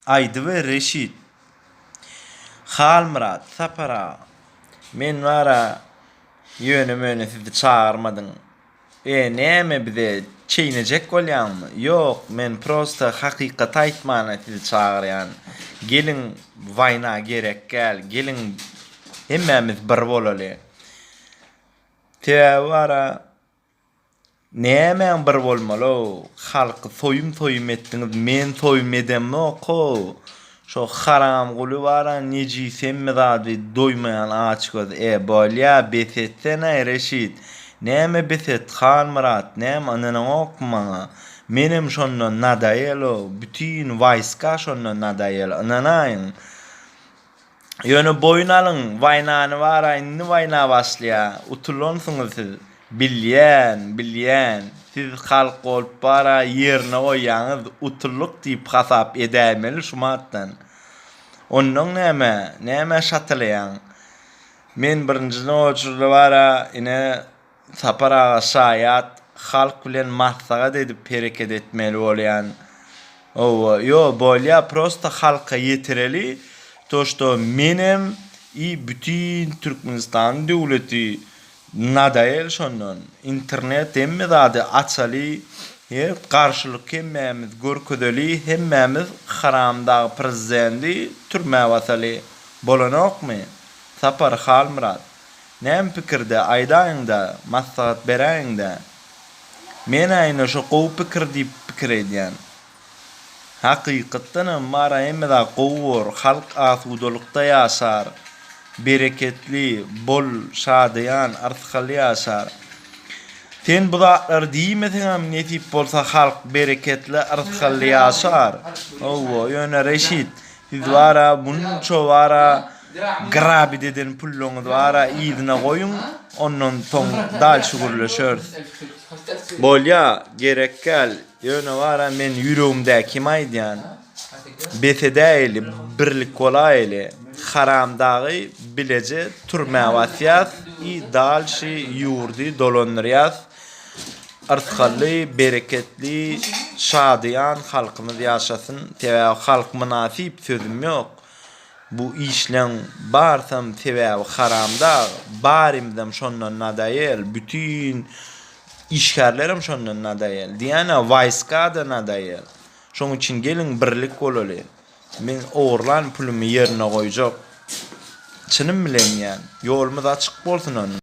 Aýdy we Reşit. Halmyrat, Sapar aga, men bar-a, ýöne-möne sizi çagyrmadym. E, näme bize çeýnejek bolýaňmy? Ýok, men prosta hakykaty aýtmana sizi çagyrýan. Geliň, waýna gerekgäl, geliň, hemmämiz bir bolaly. Sebäbi bar-a. Nämäň bir bolmaly-ow? Halky soýum-soýum etdiňiz, men soýum edemok-ow. Şo haramguly bar-a, nejisem-mi zady, doýmaýan açgöz. E, bolýa, bes etsene-aý, Reşit! Näme bes et, Hanmyrat, näme, ynanaňokmy maňa? Menem şonda nadaýel-ow, bütin waýska şonda nadaýel, ynanaýyň! Ýöne boýun alyň, waýnany bara indi waýna başlaýa, utulansyňyz siz. Bilýän, bilýän, siz halk bolup bara ýerine goýýaňyz, utuldyk diýip hasap edäýmeli şumatdan. Onnoň näme, nämä şatalaýaň? Men birinjiden oçurda bara ine, Sapar aga şaýat halk bilen maslahat edip hereket etmeli bolýan owo ýo bolýa prosta halka ýetireli to što menem i bütin türkmenistan döwleti nadael şondan internet hemme zady açaly he garşylyk hemmämiz görkezeli hemmämiz haramdag prezidendi türmä basaly bolanokmy sapar halmyrat Näme pikirde, aýdaýyň-da, maslahat beräýiň-dä. Men aýna şo gowy pikir diýip pikir edýän. Hakykatdanam Mary hemedä gowy bor, halk asudalykda ýaşar, bereketli, bol, şadyýan, arsgaly ýaşar. Sen bu zatlary diýmeseňem nesip bolsa halk bereketli, arsgaly ýaşar. Hawa, ýöne Reşit, Siz bara munça bara grabit eden pulluňyz bara yzyna goýuň, ondan soň dalşy gürleşeris. Bolýa, gerekgäl. Ýöne bara men ýüregimdäkimi aýdýan. Bes edäýeli, birlik bolaýeli. Haram dagy bileje türmä basýas i dalşy ýurdy dolandyrýas. Yrtgally, bereketli, şadyýan halkymyz ýaşasyn. Sebäbi halk mynasyp sözüm ýok. Bu işleň barsam sebäbi haramda, barimizem şondan nadaýel, bütin işgärlerem şondan nadaýel. Diýýän-ä waýska-da nadaýel. Şoň üçin geliň birlik bolaly. Men ogurlan pulumy ýerine goýjak. Çynym bilen diýýän. Ýolumyz açyk bolsun onda.